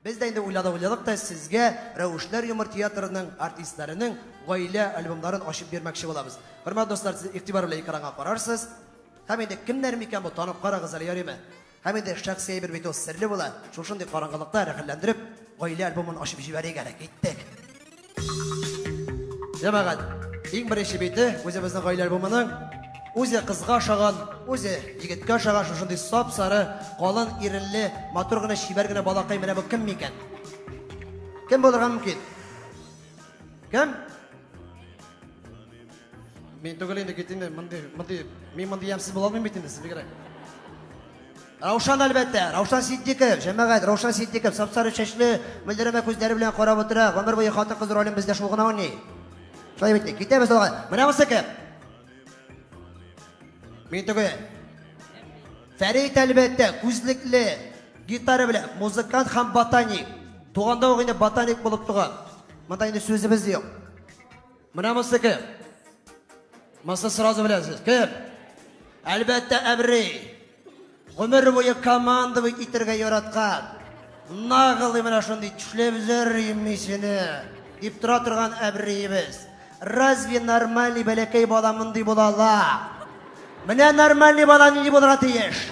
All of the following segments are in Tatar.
Без дә инде уйладык-уйладык та сезгә Рәвешләр юмор театрының артистларының гаилә альбомнарын ачып бирмәкче булабыз. Хөрмәт дуслар, сез игътибар белән экранга карарсыз. Һәм инде кемнәр микән бу, танып карагыз әле яриме? Һәм инде шәхси әйбер бит ул, серле була. Шушындый караңгылыкта рәхәтләндереп гаилә альбомын ачып җибәрик әле, киттек. Җәмәгать, иң беренче бите үзебезнең гаилә альбомының үзе кызга ошаган, үзе егеткә ошаган шушындый сап-сары, калын иренле, матур гына, чибәр генә балакай менә бу кем микән? Кем булырга мөмкин? Кем? Мин түгел инде кит инде, мондый, мондый, мин мондый ямсыз була алмыйм бит инде, сез бигрәк. Раушан әлбәттә, Раушан Ситдиков, җәмәгать, Раушан Ситдиков, сапсары чәчле, мөлдерәмә күзләре белән карап утыра, гомер буе хатын-кыз ролен бездә шул гына уйный. Шулай бит, китәбез алга. Менә бусы кем? Мин түгел. Фәрит әлбәттә, күзлекле, гитара белән, музыкант һәм ботаник. Туганда ук инде ботаник булып туган. Монда инде сүзебез юк. Менә монысы кем? Монысы сразу беләсез. Кем? Әлбәттә, Әбри. Гомер буе командовать итәргә яраткан. Нагылый менә шундый төшләп зөрим мисене. Дип тора торган Әбриебез. Разве нормальный бәләкәй бала мондый була ала? Менә нормальный бала нинди булырга тиеш.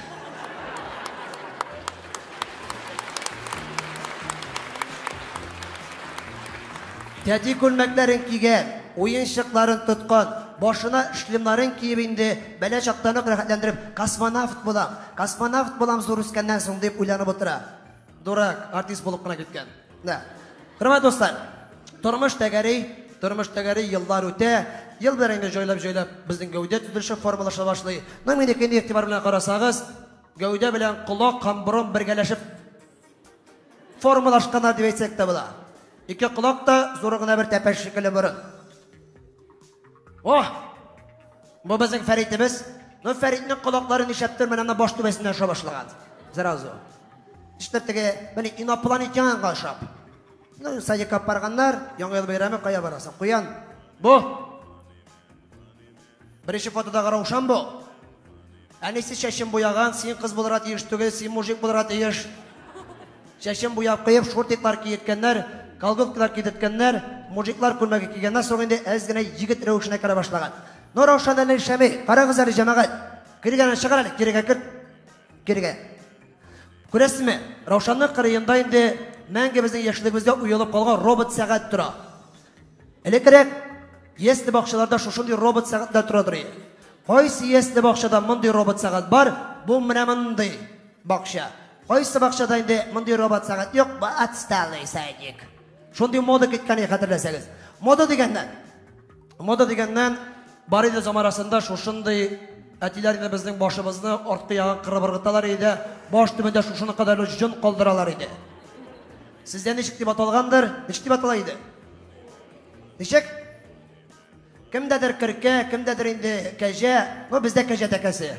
Тәти күлмәкләрен кигән, уенчыкларын тоткан, башына шлемнарын киеп инде бәлә чактан ук рәхәтләндереп, космонавт булам, космонавт булам зур үскәннән соң, дип уйланып утыра. Дурак, артист булып кына киткән. Менә, хөрмәт дуслар, тормыш тәгәри, тормыш тәгәри, еллар үтә, ел белән инде җайлап-җайлап безнең гәүдә төзелеше формалаша башлый. Менә минеке инде игътибар белән карасагыз, гәүдә белән колак һәм борын бергәләшеп формалашканнар дип әйтсәк тә була. Ике колак та зур гына бер тәпәш шикелле борын. О! Бу безнең Фәритебез. Ну, Фәритнең колаклары нишәп төр, менә баш түбәсенә аша башлаган. Сразу. Эштер теге, менә инопланетянга ашап. Ну, садикка барганнар, яңа ел бәйрәме кая барасың? Куян. Бу. Беренче фотодагы Раушан бу. Әнисе чәчен буяган, син кыз булырга тиеш түгел, син мужик булырга тиеш. Чәчен буяп куеп, шортиклар киеткәннәр, колготкалар кидерткәннәр, мужиклар күлмәге кигәннән соң инде әз генә егет рәвешенә керә башлаган. Ну, Раушан әле эшләми, карагыз әле, җәмәгать. Кергәнен чыгар әле, кирегә кер. Кирегә. Күрәсезме, Раушанның кырыенда инде мәңге безнең яшьлегебездә уелып калган робот сәгать тора. Элеккерәк ясле бакчаларда шушындый робот сәгатьләр тора торый. Кайсы ясле бакчада мондый робот сәгать бар? Бу менә мондый бакча. Кайсы бакчада инде мондый робот сәгать юк, бу отсталый садик. Шундый мода киткәне хәтерләсәгез. Мода дигәннән. Мода дигәннән бар иде замарасында шушындый әтиләр инде безнең башыбызны арткы ягын кырып ыргыталар иде. Баш төбендә шушына кадәр җон калдыралар иде. Сездә ничек дип аталгандыр? Ничек дип атала иде? Ничек? Кемдәдер керкә, кемдәдер инде кәҗә. Ну, бездә кәҗә тәкәсе.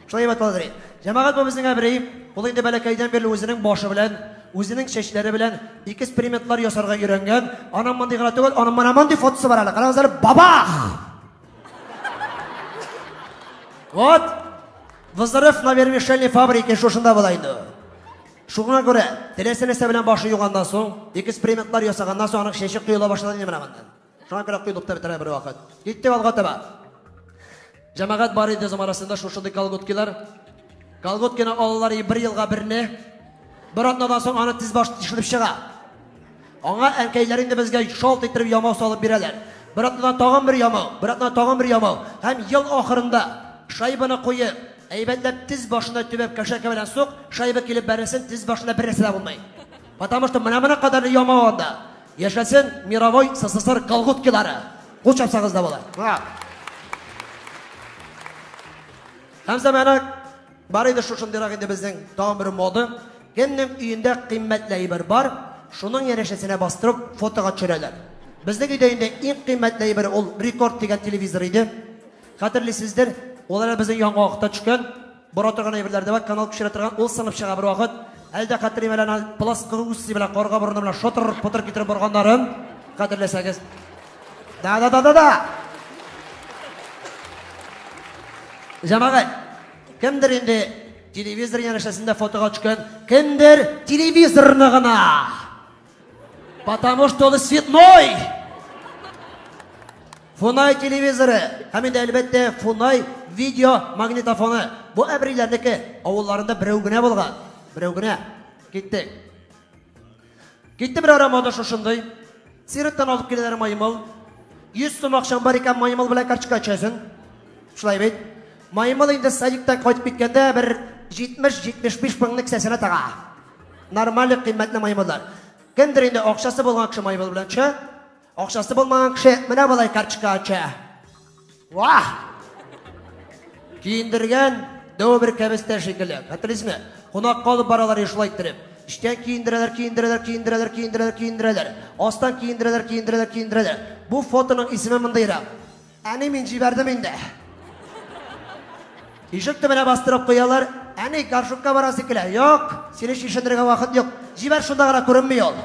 Шулай дип аталадыр. Җәмәгать бу безнең Әбрәим. Ул инде бәләкәйдән бирле үзенең башы белән, үзенең чәчләре белән экспериментлар ясарга өйрәнгән. Аның мондый гына түгел, аның менә мондый фотосы бар әле. Карагыз әле, бабах! Вот. Взрыв на вермишельной фабрике шушында була инде. Шуңа күрә, теләсә нәрсә белән башы юганнан соң, экспериментлар ясаганнан соң аның чәче коела башлады инде менә моннан. Шуңа күрә коелып та бетерә бер вакыт. Киттек алга таба. Җәмәгать бар иде заманасында шушындый колготкилар. Колготкины алалар и бер елга берне. Бер атнадан соң аны тез баш тишелеп чыга. Аңа әнкәйләр инде безгә шалт иттереп ямау салып бирәләр. Бер атнадан тагын бер ямау, бер атнадан тагын бер ямау. Һәм ел ахырында, шайбаны куеп, әйбәтләп тез башына төбәп кәшәкә белән сук, шайба килеп бәрелсен, тез башында бер нәрсә дә булмый. Потому что менә моның кадәрле ямау анда. Яшәсен мировой СССР колготкилары. Кул чапсагыз да була. Һәм замана Бар иде шушындыйрак инде безнең тагын бер мода. Кемнең өендә кыйммәтле әйбер бар, шуның янәшәсенә бастырып фотога төшерәләр. Безнең өйдә инде иң кыйммәтле әйбер ул Рекорд дигән телевизор иде. Хәтерлисездер, ул әле безнең яңагакта төшкән. Бора торган әйберләр дә бар, канал күчерә торган, ул сынып чыга бервакыт. Әле дә хәтерлим әле аны плоскоусый белән карга борыны белән шотыр-потыр китереп борганнарын, хәтерләсәгез. Да, да, да, да, да. Җәмәгать, кемдер инде телевизор янәшәсендә фотога төшкән, кемдер телевизорны гына. Потому что он цветной. Фунай телевизоры, һәм инде әлбәттә Фунай видео магнитофоны. Бу әбриләрнеке авылларында берәү генә булган. Берәү генә. Киттек. Китте бер ара мода шушындый. Сиреттан алып киләләр маймыл. 100 сум акчаң бар икән, маймыл белән карточка ачасың. Шулай бит. Маймыл инде садиктан кайтып киткәндә бер 70-75 меңлек кесәсенә тага. Нормаль кыйммәтле маймыллар. Кемдер инде акчасы булган кеше маймыл белән төшә. Акчасы булмаган кеше менә болай карточка ача. Вах! Киендергән дәү бер кәбестә шикелле. Хәтерлисезме? Кунак калып баралар шулай иттереп. Эчтән киендерәләр, киендерәләр, киендерәләр, киендерәләр, киендерәләр. Астан киендерәләр, киендерәләр, киендерәләр. Бу фотоның исеме мондыйрак. Әни, мин җибәрдем инде. Ишек төбенә бастырып куялар. Әни, горшокка барасы килә. Юк, сине чишендерергә вакыт юк. Җибәр, шунда гына күренми ул.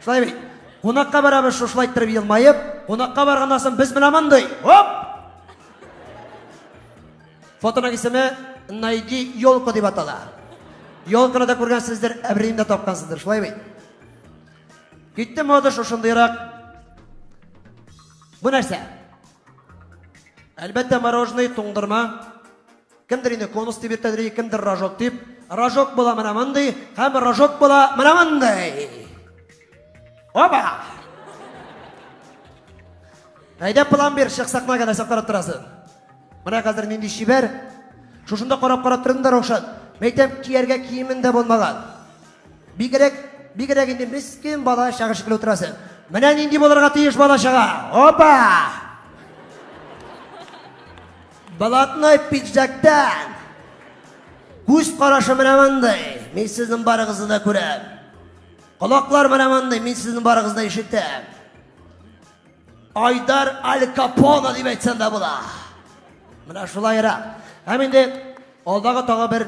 Шулай бит. Кунакка барабыз, шушылай иттереп елмаеп. Кунакка барганнан соң без менә мондый. Оп! Фотоның исеме Найди елку дип атала. Елканы да күргәнсездер, әбриен дә тапкансыздыр, шулай бит. Китте мода шушындыйрак. Бу нәрсә? Әлбәттә, мороженое, туңдырма. Кемдер инде конус дип йөртәдер, кемдер рожок дип. Рожок була менә мондый, һәм рожок була менә мондый. Опа! Әйдә план бир, чык сакнага нәрсә карап торасың? Менә хәзер нинди чибәр. Шушында карап-карап тордым да, Раушан. Мәйтәм, кияргә киемем дә булмаган. Бигрәк, бигрәк инде мискин бала чага шикелле утырасы. Менә нинди булырга тиеш бала чага. Опа! Балатной пиджактан. Күз карашы менә мондый. Мин сезнең барыгызны да күрәм. Колаклар менә мондый, мин сезнең барыгызны да ишетәм. Айдар Аль Капоне дип әйтсәм дә була. Менә шулай ера. Һәм инде алдагы тагы бер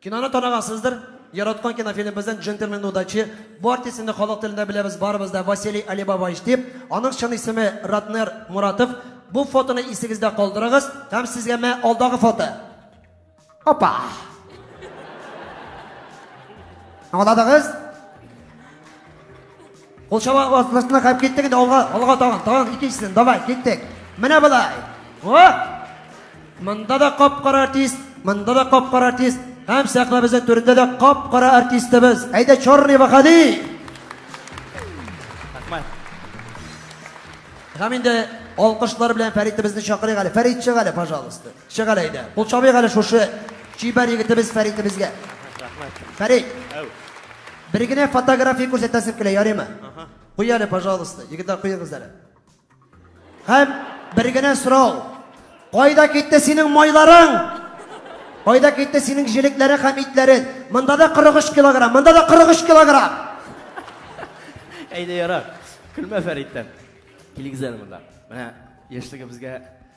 Киноны танагансыздыр. Яраткан кинофильмыбыздан Джентльмен удачи. Бу артистны халык телендә беләбез барыбыз да Василий Алибабаевич дип. Аның чын исеме Ратнер Муратов. Бу фотоны исегездә калдырыгыз һәм сезгә мә алдагы фото. Опа! Аңладыгыз? Ул чаба астына кап киттек инде алга, алга тагын, тагын икенчесен. Давай, киттек. Менә болай. О! Монда да кап-кара артист, монда да кап-кара артист. Һәм сәхнәбезнең түрендә дә кап-кара артистыбыз. Әйдә Чорный Ваһади. Рәхмәт. Һәм инде алкышлар белән Фәритебезне чакырыйк әле. Фәрит чык әле, пожалуйста. Чык әле әйдә. Кул чабыйк әле шушы чибәр егетебез Фәритебезгә. Рәхмәт. Фәрит. Әү. Бер генә фотография күрсәтәсем килә, ярыймы? Куй әле, пожалуйста. Егетләр куегыз әле. Һәм бер генә сорау. Кайда китте синең майларың? Кайда китте синең җилекләрең һәм итләрең? Монда да 43 килограмм, монда да 43 килограмм. Әйдә ярар. Көлмә Фәриттән. Килегез әле монда. Менә яшьлегебезгә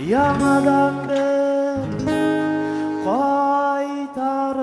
Яңадан бер кайтарып